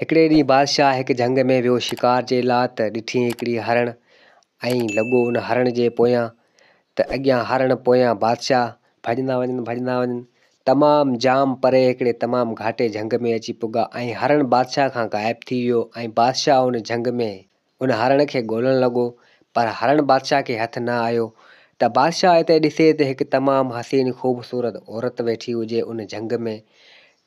هڪڙي ڏينهن بادشاهه هڪ جهنگ ۾ ويو شڪار جي لا ته ڏٺيئي هڪڙي هرڻ ۽ لڳو ان هرڻ جي پويان ته اڳيان هرڻ پويان بادشاهه ڀڄندا وڃن ڀڄندا وڃن تمام جام پري هڪڙي تمام گهاٽي جهنگ ۾ اچي پڳا ۽ هرڻ بادشاهه کان غائب ٿي ويو ۽ بادشاهه ان جهنگ ۾ هن هرڻ کي ڳولڻ لڳو، پر هرڻ بادشاهه کي هٿ نه آيو، ته بادشاهه اتي ڏسي ته هڪ تمام حسين خوبصورت عورت ويٺي هجي ان جهنگ ۾،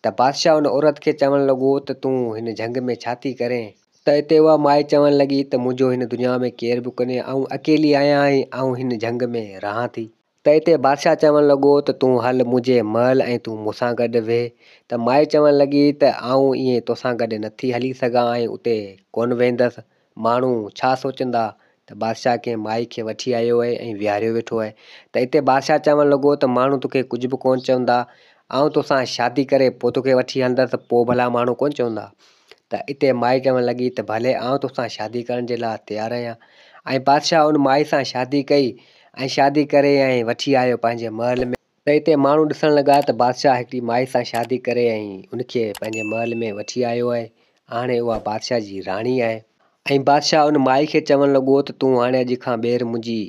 ته بادشاهه ان عورت کي چوڻ لڳو ته تون هن جهنگ ۾ ڇا ٿي ڪرين؟ ته اتي اها مائي چوڻ لڳي ته منهنجو هن دنيا ۾ ڪير به ڪونهي، آئون اڪيلي آهيان ۽ آئون هن جهنگ ۾ رهان ٿي. تنهن تي بادشاهه چوڻ لڳو ته تون هل منهنجي محل ۽ تون مون سان گڏ ويهه. ته مائي چوڻ لڳي ته آئون ائين تو سان گڏ نٿي هلي سگهان ۽ اتي ڪونه ويهندس. ماڻهو ڇا سوچندا؟ ته بادشاهه ڪنهن مائي کي وٺي آيو آهي ۽ ويهاريو ويٺو آهي. ته اتي بادشاهه چوڻ لڳو ته ماڻهو توکي ڪجهه به ڪونه چوندا. آئون تو سان شادي ڪري پوء توکي وٺي هلندس، پوء ڀلا ماڻهو ڪونه چوندا. ته اتي مائي چوڻ لڳي ته ڀلي آئون توسان شادي ڪرڻ جي لاء تيار آهيان ۽ بادشاهه ان مائي سان شادي ڪئي ۽ شادي ڪري ۽ وٺي آيو پنهنجي محل ۾. ته اتي ماڻهو ڏسڻ لڳا ته بادشاهه هڪڙي مائي سان شادي ڪري ۽ ان کي پنهنجي محل ۾ وٺي آيو آهي هاڻي اها بادشاهه جي راڻي آهي. ۽ بادشاهه ان مائي کي چوڻ لڳو ته تون هاڻي اڄ کان ٻيهر منهنجي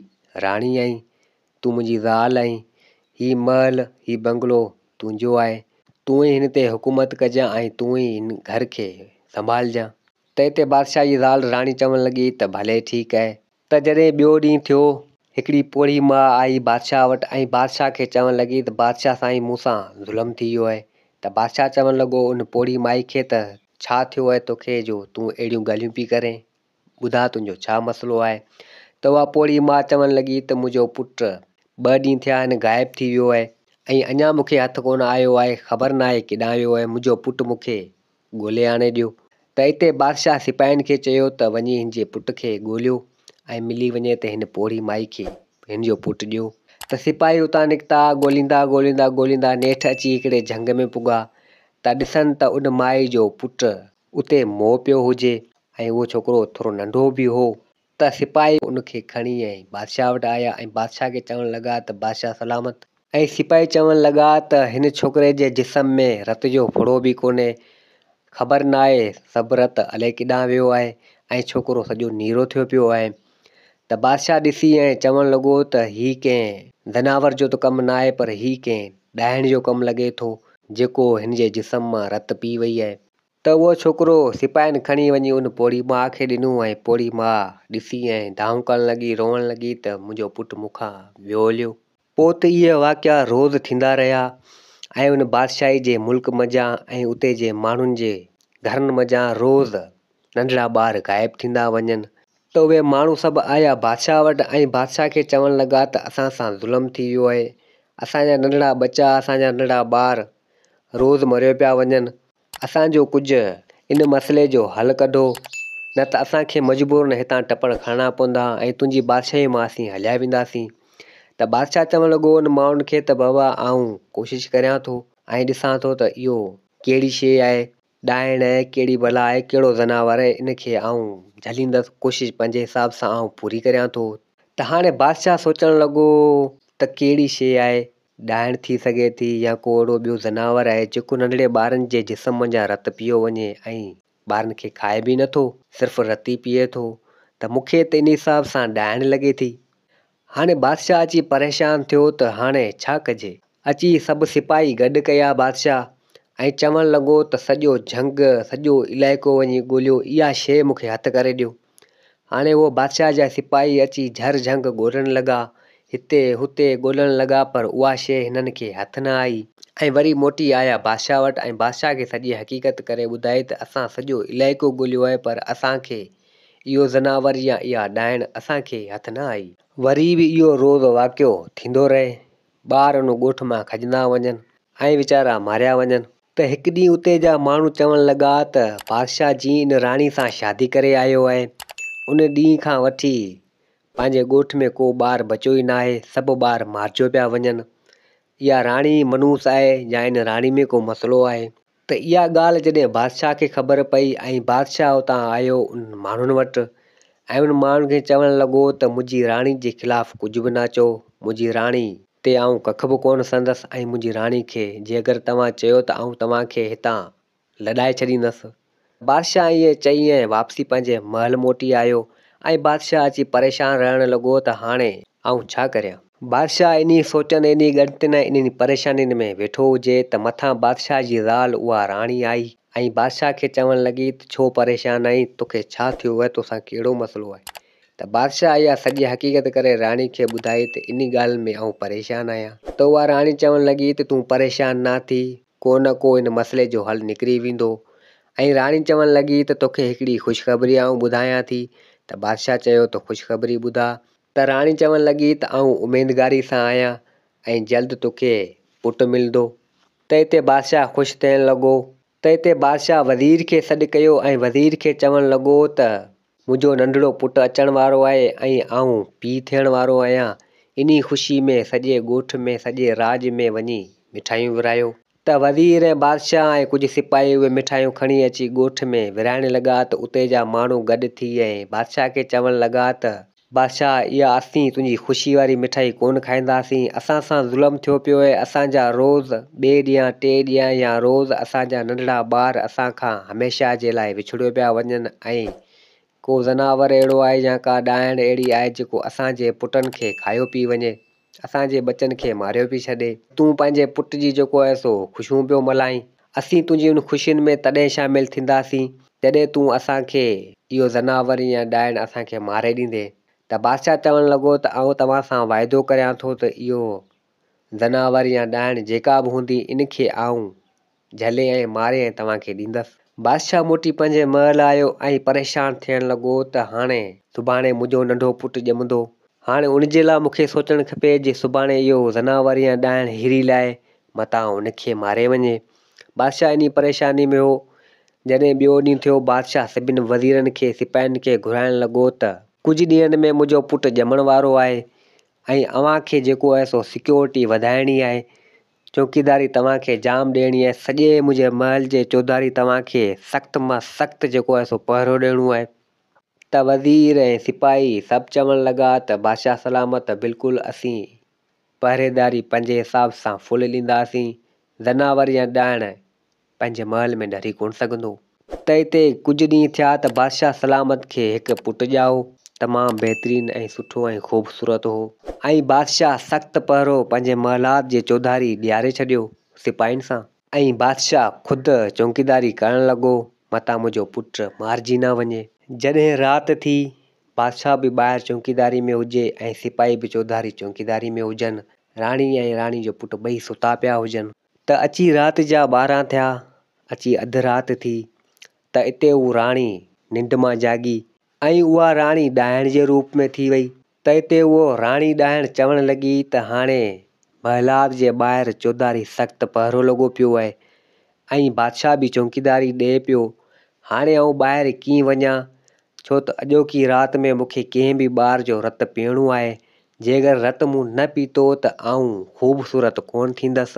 راڻي آهين تون منهنجي زال آهين، هي محل، هي بنگلو تنهنجو آهي، تون ئي هن تي حڪومت ڪجان ۽ تون ئي هن گهر کي سنڀالجان. تنهن تي بادشاهه جي زال راڻي چوڻ لڳي ته ڀلي ٺيڪ آهي. ته جڏهن ٻيو ڏينهن ٿيو، هڪڙي پوڙهي ماء آئي بادشاهه وٽ ۽ بادشاهه کي چوڻ لڳي ته بادشاهه سائين مون سان ظلم ٿي ويو آهي. ته بادشاهه چوڻ لڳو ان پوڙهي مائي کي ته ڇا ٿيو آهي توکي جو تون اهڙيون ڳالهيون پئي ڪرين. ٻڌاء تنهنجو ڇا مسئلو آهي؟ ته اها پوڙهي ماء چوڻ لڳي ته منهنجو پٽ ٻه ڏينهن ٿيا آهن غائب ٿي ويو آهي ۽ اڃا مون کي هٿ ڪونه آيو آهي، خبر ناهي ڪيڏانهن ويو آهي، منهنجو پٽ مون کي ڳولي آڻي ڏيو. ته اتي بادشاهه سپاهين کي چيو ته وڃي هن جي پٽ کي ڳوليو ۽ ملي وڃي ته هن پوڙهي مائي کي هن جو پٽ ڏيو. ته سپاهي اتان نڪتا، ڳوليندا ڳوليندا ڳوليندا نيٺ اچي هڪڙي جهنگ ۾ پڳا ته ڏسن ته ان مائي جو پٽ اتي موهه پيو هجي ۽ اهو ڇوڪرو ٿورو ننڍو به هو ته سپاهي ان کي کڻي ۽ بادشاهه وٽ آيا ۽ بادشاهه کي چوڻ لڳا ته بادشاهه سلامت. ۽ سپاهي چوڻ لڳا ته هن ڇوڪري جي جسم ۾ رت جو ڦڙو به ڪونهي، خبر ناهي سڀ رت الائي ڪيڏانهن ويو آهي ۽ ڇوڪرو سڄو نيرو ٿيو پيو آهي. ته بادشاهه ڏسي ۽ چوڻ لڳو ته هي ڪنهن ذناور جو ته ڪم ناهي پر هي ڪنهن ڏاهڻ جو ڪم لڳي ٿو جيڪو هن جي جسم مان رت پي وئي آهي. ته اهو ڇوڪرو سپاهين کڻي وڃي ان پوڙهي ماء کي ڏنو ۽ پوڙهي ماء ڏسي ۽ دانهون ڪرڻ لڳي، روئڻ لڳي ته منهنجو پٽ مون کان ويو هليو. پوء ته اهي واقعا روز ٿيندا رهيا ۽ ان بادشاهي جي ملڪ منجهان ۽ اتي جي ماڻهن جي گهرن منجهان روز ننڍڙا ٻار غائب ٿيندا وڃن. ته اهي ماڻهو سڀ آيا بادشاهه وٽ ۽ بادشاهه کي چوڻ لڳا ته اسان سان ظلم ٿي ويو آهي، اسان جا ننڍڙا ٻچا، اسان جا ننڍڙا ٻار، روز مريو پيا وڃن اسان جو ڪجهه ان مسئلي جو حل ڪڍو نه ته اسان کي مجبورن هتان ٽپڙ کڻڻا پوندا ۽ تنهنجي بادشاهي مان اسين هليا وينداسين ته بادشاهه چوڻ لڳو ان ماڻهن کي ته بابا آئون ڪوشش ڪريان ٿو ۽ ڏسان ٿو ته اهو ڪهڙي شيء آهي ڏائڻ آهي ڪهڙي بلا آهي ڪهڙو زناور آهي ان کي آئون جهليندس ڪوشش پنهنجي حساب سان آئون پوري ڪريان ٿو ته هاڻي بادشاهه سوچڻ لڳو ته ڪهڙي شيء آهي ڏائڻ ٿي سگهي ٿي يا ڪو اهڙو ٻيو ذناور آهي جيڪو ننڍڙي ٻارن جي جسم منجهان رت پيو وڃي ۽ ٻارن کي کائي به نه ٿو صرف رت ئي پيئي ٿو ته مون کي ته ان حساب سان ڏائڻ لڳي ٿي. هاڻي بادشاهه اچي پريشان ٿيو ته هاڻي ڇا ڪجي؟ اچي سڀ سپاهي گڏ ڪيا بادشاهه ۽ چوڻ لڳو ته سڄو جهنگ، سڄو علائقو وڃي ڳوليو اها شيء مون کي هٿ ڪري ڏيو. هاڻي اهو بادشاهه جا سپاهي اچي جهر جهنگ ڳولڻ لڳا. هتي، هتي ڳولڻ لڳا پر اها شيء هنن کي هٿ نه آئي. ۽ وري موٽي آيا بادشاهه وٽ ۽ بادشاهه کي سڄي حقيقت ڪري ٻڌائي ته اسان سڄو علائقو ڳوليو آهي پر اسان کي اهو زناور يا اها ڏائڻ اسان کي هٿ نه آئي. وري به اهو روز واقعو ٿيندو رهي. ٻار ان ڳوٺ مان کڄندا وڃن ۽ ويچارا ماريا وڃن. ته هڪ ڏينهن اتي جا ماڻهو چوڻ لڳا ته بادشاهه جي ان راڻي سان شادي ڪري آيو آهي. ان ڏينهن کان وٺي پنهنجي ڳوٺ ۾ ڪو ٻار بچيو ئي ناهي، سڀ ٻار مارجيو پيا وڃن. اها راڻي ئي منحوس آهي يا ان راڻي ۾ ڪو مسئلو آهي؟ ته اها ڳالهه جڏهن بادشاهه کي خبر پئي ۽ بادشاهه اتان آيو انهن ماڻهن وٽ ۽ انهن ماڻهن کي چوڻ لڳو ته منهنجي راڻي جي خلاف ڪجهه به نه چئو، منهنجي راڻي. تي آئون ڪک به ڪونه سهندس ۽ منهنجي راڻي کي جيڪر توهان چيو ته آئون توهان کي هتان لڏائي ڇڏيندس. بادشاهه ائين چئي ۽ واپسي پنهنجي محل موٽي آيو ۽ بادشاهه اچي پريشان رهڻ لڳو ته هاڻي آئون ڇا ڪريان؟ بادشاهه انهيء سوچن، انهيء ڳڻتين ۽ انهن پريشانين ۾ ويٺو هجي ته مٿان بادشاهه جي زال اها راڻي آئي ۽ بادشاهه کي چوڻ لڳي ته ڇو پريشان آهين؟ توکي ڇا ٿيو آهي؟ توسان ڪهڙو مسئلو آهي؟ ته بادشاهه اها سڄي حقيقت ڪري راڻي کي ٻڌائي ته انهي ڳالهه ۾ آئون پريشان آهيان. ته اها راڻي چوڻ لڳي ته تون پريشان نه ٿي، ڪو نه ڪو ان مسئلي جو حل نڪري ويندو. ۽ راڻي چوڻ لڳي ته توکي هڪڙي خوشخبري آئون ٻڌايان ٿي. ته بادشاهه چيو ته خوشخبري ٻڌاء. ته راڻي چوڻ لڳي ته آئون اميدگاري سان آهيان ۽ جلد توکي پٽ ملندو. ته اتي بادشاهه خوش ٿيڻ لڳو تنهن تي بادشاهه وزير کي سڏ ڪيو ۽ وزير کي چوڻ لڳو ته منهنجو ننڍڙو پٽ اچڻ وارو آهي ۽ آئون پيء ٿيڻ وارو آهيان، انهي خوشي ۾ سڄي ڳوٺ ۾ سڄي راڄ ۾ وڃي مٺايون ورهايو. ته وزير ۽ بادشاهه ۽ ڪجهه سپاهي اهي مٺايون کڻي اچي ڳوٺ ۾ ورهائڻ لڳا ته اتي جا ماڻهو گڏ ٿي ۽ بادشاهه کي چوڻ لڳا ته. بادشاهه، اها اسين تنهنجي خوشي واري مٺائي ڪونه کائينداسين. اسان سان ظلم ٿيو پيو اهي اسان جا روز ٻئي ڏينهن ٽئين ڏينهن يا روز اسان جا ننڍڙا ٻار اسان کان هميشه جي لاء وڇڙيو پيا وڃن ۽ ڪو ذناور اهڙو آهي يا ڪا ڏائڻ اهڙي آهي جيڪو اسان جي پٽن کي کايو پي وڃي. اسان جي ٻچن کي ماريو پئي ڇڏي. تون پنهنجي پٽ جي جيڪو آهي سو خوشيون پيو ملهائين. اسين تنهنجي ان خوشين ۾ تڏهن شامل ٿينداسين جڏهن تون اسان کي اهو ذناور يا ڏائڻ اسان کي ماري ڏيندين. ته بادشاهه چوڻ لڳو ته آئون توهان سان واعدو ڪريان ٿو ته اهو ذناور يا ڏائڻ جيڪا به هوندي ان کي آئون جهلي ۽ ماري ۽ توهان کي ڏيندس. بادشاهه موٽي پنهنجي محل آيو ۽ پريشان ٿيڻ لڳو ته هاڻي سڀاڻي منهنجو ننڍو پٽ ڄمندو. هاڻي ان جي لاء مون کي سوچڻ کپي جي سڀاڻي اهو زناور يا ڏائڻ هيري لاء متان ان کي ماري وڃي. بادشاهه انهي پريشاني ۾ هو. جڏهن ٻيو ڏينهن ٿيو، بادشاهه سڀن وزيرن کي سپاهين کي گهرائڻ لڳو ته. ڪجهه ڏينهن ۾ منهنجو پٽ ڄمڻ وارو آهي ۽ اوهان کي جيڪو آهي سو سيڪيورٽي وڌائڻي آهي چوڪيداري توهان کي جام ڏيڻي آهي، سڄي منهنجي محل جي چوڌاري توهان کي سخت مان سخت جيڪو آهي سو پهرو ڏيڻو آهي. ته وزير ۽ سپاهي سڀ چوڻ لڳا ته بادشاهه سلامت بلڪل اسين پهريداري پنهنجي حساب سان فل ڏينداسين، زناور يا ڏاهڻ پنهنجي محل ۾ ڍري ڪونه سگهندو. ته اتي ڪجهه ڏينهن ٿيا ته بادشاهه سلامت کي هڪ پٽ ڄائو. تمام بهترين ۽ سٺو ۽ خوبصورت هو. ۽ بادشاهه سخت پهرو پنهنجي محلات جي چوڌاري ڏياري ڇڏيو سپاهين سان. ۽ بادشاهه خود چونڪيداري ڪرڻ لڳو متان منهنجو پٽ مارجي نه وڃي. جڏهن رات ٿي، بادشاهه به ٻاهر چونڪيداري ۾ هجي ۽ سپاهي به چوڌاري چونڪيداري ۾ هجن. راڻي ۽ راڻي جو پٽ ٻئي ستا پيا هجن. ته اچي رات جا ٻارهن ٿيا، اچي اڌ رات ٿي، ته اتي هو راڻي ننڊ مان جاڳي، ۽ اها راڻي ڏاهڻ جي روپ ۾ ٿي وئي، ته اتي هوء راڻي ڏاهڻ چوڻ لڳي ته هاڻي محلات جي ٻاهر چوڌاري سخت پهرو لڳو پيو اهي، ۽ بادشاهه به چونڪيداري ڏئي پيو، هاڻي آئون ٻاهر ڪيئن وڃان، ڇو ته اڄوڪي رات ۾ مون کي ڪنهن به ٻار جو رت پيئڻو آهي، جيڪر رت مون نه پيتو ته آئون خوبصورت ڪونه ٿيندس.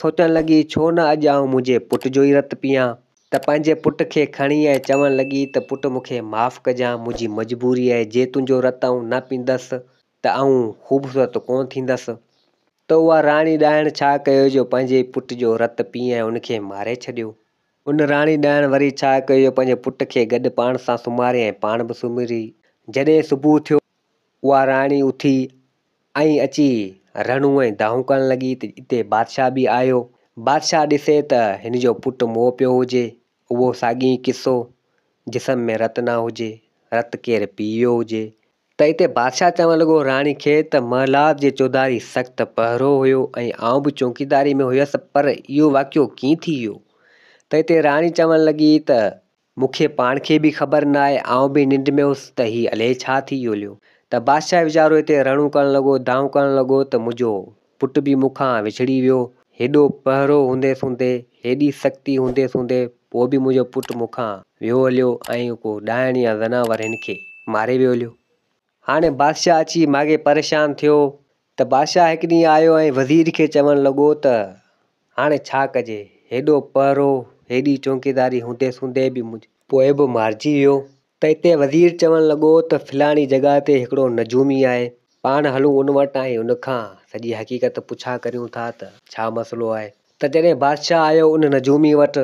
سوچڻ لڳي ڇو نه اڄ آئون منهنجي پٽ جو ئي رت پيان ته پنهنجي پٽ کي کڻي ۽ چوڻ لڳي ته پٽ مون کي معاف ڪجان منهنجي مجبوري آهي جي تنهنجو رت آئون نه پيندس ته آئون خوبصورت ڪونه ٿيندس ته اها راڻي ڏائڻ ڇا ڪيو جو پنهنجي پٽ جو رت پي ۽ ان کي ماري ڇڏيو. ان راڻي ڏائڻ وري ڇا ڪيو جو پنهنجي پٽ کي گڏ پاڻ سان سمهاري ۽ پاڻ به سمهري جڏهن صبح ٿيو اها راڻي اٿي ۽ اچي رنو ۽ دانهون ڪرڻ لڳي ته اتي بادشاهه به آيو. بادشاهه ڏسي ته هن جو پٽ موء پيو هجي. اهو ساڳيون ئي قصو، جسم ۾ رت نه هجي، رت ڪير پي ويو هجي. ته اتي بادشاهه چوڻ لڳو راڻي کي ته محلات جي چوڌاري سخت پهرو هيو ۽ آئون به چونڪيداري ۾ هيس پر اهو واقعو ڪيئن ٿي ويو؟ ته اتي راڻي چوڻ لڳي ته مون کي پاڻ کي به خبر نه آهي، آئون به ننڊ ۾ هوس ته هي الئي ڇا ٿي يوليو ته بادشاهه ويچارو هتي رڙون ڪرڻ لڳو، دانهون ڪرڻ لڳو ته منهنجو پٽ به مون کان وڇڙي ويو، هيڏو پهرو هوندي سوندي، هيڏي سختي هوندي سوندي پوء به منهنجو پٽ مون کان ويو هليو ۽ ڪو ڏائڻ يا زنانور هن کي ماري ويوليو. هاڻي بادشاهه اچي ماڳهين پريشان ٿيو ته بادشاهه هڪ ڏينهن آيو ۽ وزير کي چوڻ لڳو ته هاڻي ڇا ڪجي؟ هيڏو پهرو، هيڏي چونڪيداري هوندي سوندي به منهنجو. پوء به مارجي ويو. ته اتي وزير چوڻ لڳو ته فلاڻي جڳهه تي هڪڙو نجومي آهي، پاڻ هلون ان وٽ ۽ ان کان سڄي حقيقت پڇا ڪريون ٿا ته ڇا مسئلو آهي؟ ته جڏهن بادشاهه آيو ان نجومي وٽ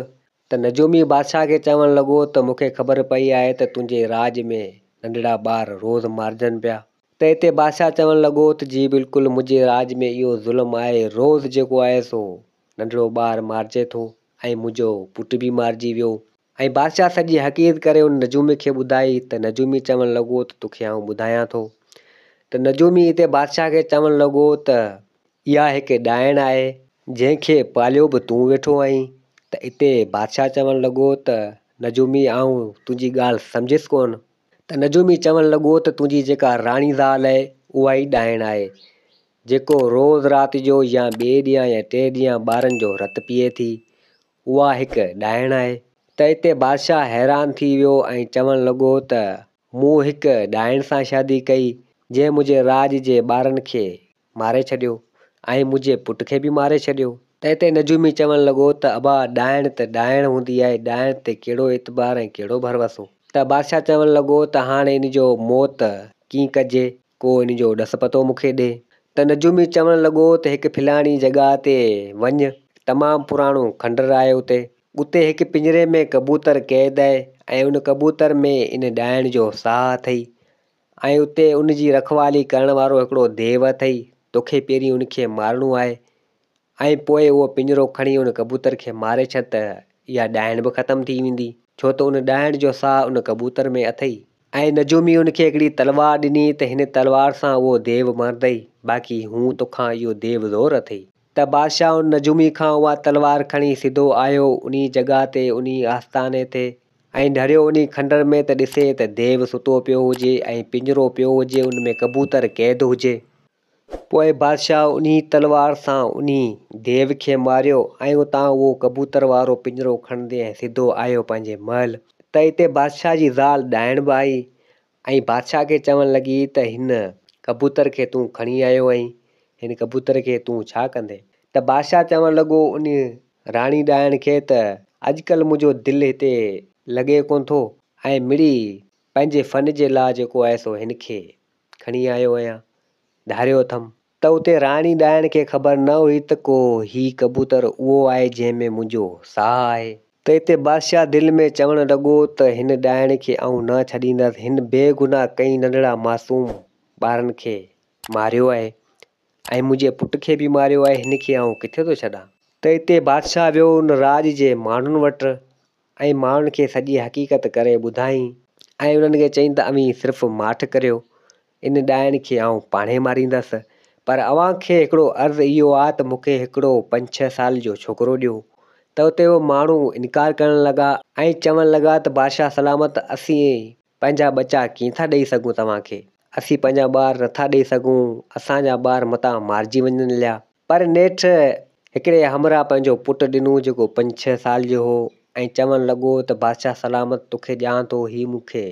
ته نجومي بادشاهه کي چوڻ لڳو ته مون کي خبر پئي آهي ته تنهنجي راڄ ۾ ننڍڙا ٻار روز مارجن پيا. ته اتي بادشاهه چوڻ لڳو ته جي بلڪل منهنجي راڄ ۾ اهو ظلم آهي روز جيڪو آهي سو ننڍڙو ٻار مارجي ٿو ۽ منهنجو پٽ به مارجي ويو ۽ بادشاهه سڄي حقيقت ڪري ان نجومي کي ٻڌائي ته نجومي چوڻ لڳو ته توکي آئون ٻڌايان ٿو ته نجومي اتي بادشاهه کي چوڻ لڳو ته اها هڪ ڏائڻ آهي، جنهن کي پاليو به تون ويٺو آهين ته اتي بادشاهه چوڻ لڳو ته نجومي آئون تنهنجي ڳالهه سمجهيس ڪونه ته نجومي چوڻ لڳو ته تنهنجي جيڪا راڻي زال آهي اها ئي ڏائڻ آهي جيڪو روز رات جو يا ٻئي ڏينهن يا ٽئين ڏينهن ٻارن جو رت پيئي ٿي اها هڪ ڏائڻ آهي ته اتي بادشاهه حيران ٿي ويو ۽ چوڻ لڳو ته مون هڪ ڏائڻ سان شادي ڪئي جنهن منهنجي راڄ جي ٻارن کي ماري ڇڏيو ۽ منهنجي پٽ کي به ماري ڇڏيو. تنهن تي نجومي چوڻ لڳو ته ابا ڏائڻ ته ڏائڻ هوندي آهي، ڏائڻ تي ڪهڙو اعتبار ۽ ڪهڙو ڀروسو؟ ته بادشاهه چوڻ لڳو ته هاڻي ان جو موت ڪيئن ڪجي، ڪو ان جو ڏس پتو مون کي ڏي. ته نجومي چوڻ لڳو ته هڪ ڦلاڻي جڳهه تي وڃ، تمام پراڻو کنڊر آهي اتي، اتي هڪ پڃري ۾ ڪبوتر قيد آهي ۽ ان ڪبوتر ۾ ان ڏائڻ جو ساهه اٿئي، ۽ اتي ان جي رکوالي ڪرڻ وارو هڪڙو ديو اٿئي، توکي پهرين ان کي مارڻو آهي ۽ پوء اهو پڃرو کڻي ان ڪبوتر کي ماري ڇڏ ته اها ڏائڻ به ختم ٿي ويندي، ڇو ته ان ڏائڻ جو ساهه ان ڪبوتر ۾ اٿئي. ۽ نجومي ان کي هڪڙي تلوار ڏني ته هن تلوار سان اهو ديو مارندئي، باقي هون توکان اهو ديو زور اٿئي. ته بادشاهه ان نجومي کان اها تلوار کڻي سڌو آيو انهي جڳهه تي، انهي آستاني تي، ائين ڍريو انهي کنڊر ۾ ته ڏسي ته ديو ستو پيو هجي ۽ پڃرو پيو هجي ان ۾ ڪبوتر قيد هجي. پوء بادشاهه انهي تلوار سان انهي ديو کي ماريو ۽ اتان اهو ڪبوتر وارو پڃرو کڻندي ۽ سڌو آيو پنهنجي محل ته اتي بادشاهه جي زال ڏائڻ به آئي ۽ بادشاهه کي چوڻ لڳي ته هن ڪبوتر کي تون کڻي آيو آهين، هن ڪبوتر کي تون ڇا ڪندين؟ ته بادشاهه چوڻ لڳو ان راڻي ڏائڻ کي ته اڄڪلهه منهنجو دل هتي لڳي ڪونه ٿو ۽ مڙئي پنهنجي فن جي لاء جيڪو آهي سو هن کي کڻي آيو آهيان، ڌاريو اٿم. ته اتي راڻي ڏائڻ کي خبر نه هئي ته ڪو هي ڪبوتر اهو آهي جنهن ۾ منهنجو ساهه آهي. ته اتي بادشاهه دل ۾ چوڻ لڳو ته هن ڏائڻ کي آئون نه ڇڏيندس، هن بي گناهه ڪئين ننڍڙا معصوم ٻارن کي ماريو آهي ۽ منهنجي پٽ کي به ماريو آهي، هن کي آئون ڪٿي ٿو ڇڏان. ته اتي بادشاهه ويو ان راڄ جي ماڻهن وٽ ۽ ماڻهن کي سڄي حقيقت ڪري ٻڌائين ۽ انهن کي چئين ته اوهين صرف ماٺ ڪريو، ان ڏائڻ کي آئون پاڻهي ماريندس، پر اوهان کي هڪڙو عرض اهو آ ته مون کي هڪڙو پنج ڇهه سال جو ڇوڪرو ڏيو. ته اتي اهي ماڻهو انڪار ڪرڻ لڳا ۽ چوڻ لڳا ته بادشاهه سلامت اسين پنهنجا ٻچا ڪيئن ٿا ڏئي سگهون توهان کي؟ اسين پنهنجا ٻار نه ٿا ڏئي سگهون، اسان جا ٻار متان مارجي وڃن ليا. پر نيٺ هڪڙي همراهه پنهنجو پٽ ڏنو جيڪو پنج ڇهه سال جو هو ۽ چوڻ لڳو ته بادشاهه سلامت توکي ڏيان ٿو هي مون کي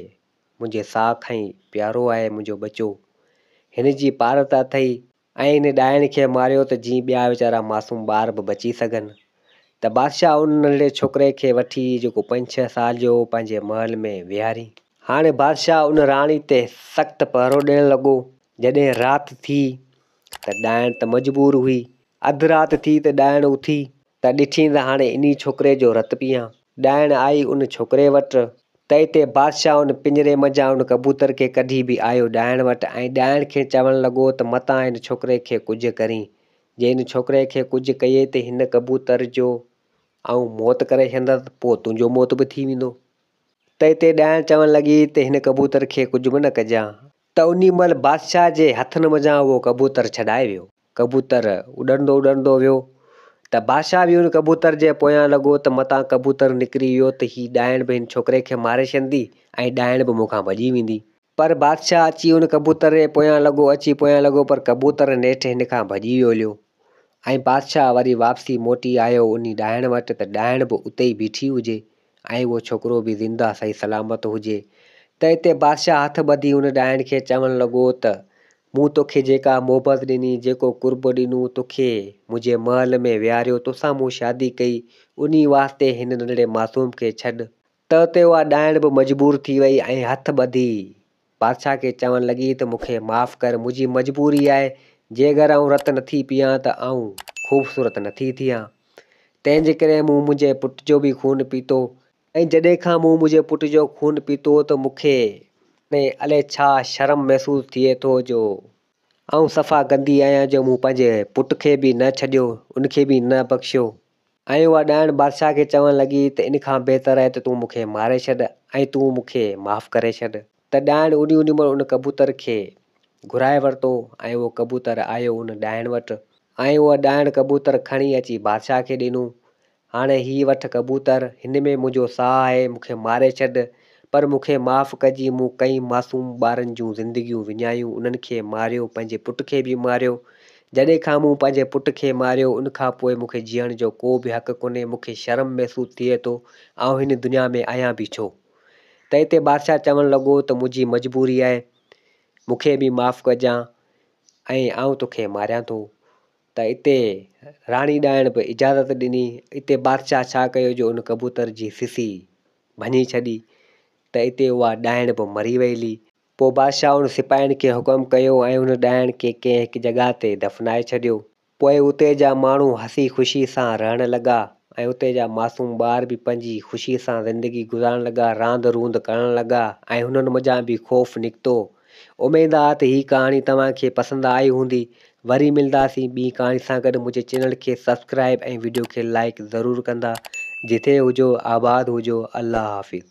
منهنجي ساهه کان ئي پيارو آهي منهنجو ٻچو. هن جي پارت اٿئي ۽ ان ڏائڻي کي ماريو ته جيئن ٻيا ويچارا معصوم ٻار به بچي سگهن ته بادشاهه ان ننڍڙي ڇوڪري کي وٺي جيڪو پنج ڇهه سال جو هو پنهنجي محل ۾ ويهارين. هاڻي بادشاهه ان راڻي تي سخت پهرو ڏيڻ لڳو. جڏهن رات ٿي ته ڏائڻ ته مجبور هئي. اڌ رات ٿي ته ڏائڻ اٿي ته ڏٺين ته هاڻي انهي ڇوڪري جو رت پيئان. ڏائڻ آئي ان ڇوڪري وٽ، تئي تي بادشاهه ان پڃري منجهان ان ڪبوتر کي ڪڍي به آيو ڏائڻ وٽ ۽ ڏائڻ کين چوڻ لڳو ته متان ان ڇوڪري کي ڪجهه ڪرين، جي ان ڇوڪري کي ڪجهه ڪيئي ته هن ڪبوتر جو آئون موت ڪري ڇڏيندس پوء تنهنجو موت به ٿي ويندو. تئي تي ڏائڻ چوڻ لڳي ته هن ڪبوتر کي ڪجهه به نه ڪجان، ته انهي مهل بادشاهه جي هٿن منجهان اهو ڪبوتر ڇڏائي ويو. ڪبوتر اڏندو اڏندو ويو ته بادشاهه به ان ڪبوتر جي پويان لڳو ته متان ڪبوتر نڪري ويو ته هي ڏائڻ به هن ڇوڪري کي ماري ڇڏندي ۽ ڏائڻ به مون کان ڀڄي ويندي. پر بادشاهه اچي ان ڪبوتر جي پويان لڳو اچي پويان لڳو پر ڪبوتر نيٺ هن کان ڀڄي ويو ليو ۽ بادشاهه وري واپسي موٽي آيو انهي ڏائڻ وٽ ته ڏائڻ به اتي ئي بيٺي هجي ۽ اهو ڇوڪرو به زنده صحيح سلامت هجي ته اتي بادشاهه هٿ ٻڌي ان ڏائڻ کي چوڻ لڳو ته، مون توکي جيڪا محبت ڏني، جيڪو قرب ڏنو، توکي منهنجي محل ۾ ويهاريو، توسان مون شادي ڪئي، انهي واسطي هن ننڍڙي معصوم کي ڇڏ. ته اتي اها ڏائڻ به مجبور ٿي وئي ۽ هٿ ٻڌي بادشاهه کي چوڻ لڳي ته مون کي معاف ڪر، منهنجي مجبوري آهي، جي اگر آئون رت نٿي پيئان ته آئون خوبصورت نٿي ٿيان، تنهن جي ڪري مون منهنجي پٽ جو به خون پيتو، ۽ جڏهن کان مون منهنجي پٽ جو خون پيتو ته مون کي ۾ الئي ڇا شرم محسوس ٿئي ٿو جو آئون صفا گندي آهيان جو مون پنهنجي پٽ کي به نه ڇڏيو، ان کي به نه بخشيو. ۽ اها ڏائڻ بادشاهه کي چوڻ لڳي ته ان کان بهتر آهي ته تون مون کي ماري ڇڏ ۽ تون مون کي معاف ڪري ڇڏ. ته ڏائڻ اڏي اڏي مهل ان ڪبوتر کي گهرائي ورتو ۽ اهو ڪبوتر آيو ان ڏائڻ وٽ ۽ اها ڏائڻ ڪبوتر کڻي اچي بادشاهه کي ڏنو. هاڻي هي وٺ ڪبوتر، هن ۾ منهنجو ساهه آهي، مون کي ماري ڇڏ. پر مون کي معاف ڪجي مون ڪئين معصوم ٻارن جون زندگيون وڃايون انهن کي ماريو پنهنجي پٽ کي به ماريو جڏهن کان مون پنهنجي پٽ کي ماريو ان کان پوء مون کي جيئڻ جو ڪو به حق ڪونهي مون کي شرم محسوس ٿئي ٿو آئون هن دنيا ۾ آهيان به ڇو تي تي بادشاهه چوڻ لڳو ته منهنجي مجبوري آهي مون کي به معاف ڪجان ۽ آئون توکي ماريان ٿو. ته اتي راڻي ڏائڻ به اجازت ڏني. اتي بادشاهه ڇا ڪيو جو ان ڪبوتر جي سسي ڀڃي ڇڏي ته اتي اها ڏائڻ به مري ويلي. پوء بادشاهه ان سپاهين کي حڪم ڪيو ۽ ان ڏائڻ کي ڪنهن هڪ جڳهه تي دفنائي ڇڏيو. پوء اتي جا ماڻهو هسي خوشي سان رهڻ لڳا ۽ اتي جا معصوم ٻار به پنهنجي خوشي سان زندگي گذارڻ لڳا، راند روند ڪرڻ لڳا ۽ هنن منجهان به خوف نڪتو اميد آ ته هي ڪهاڻي توهان کي پسند آئي هوندي. وري ملداسين ٻي ڪهاڻي سان گڏ منهنجي چينل کي سبسڪرائب ۽ وڊيو کي لائيڪ ضرور ڪندا. جتي هجو آباد هجو الله حافظ.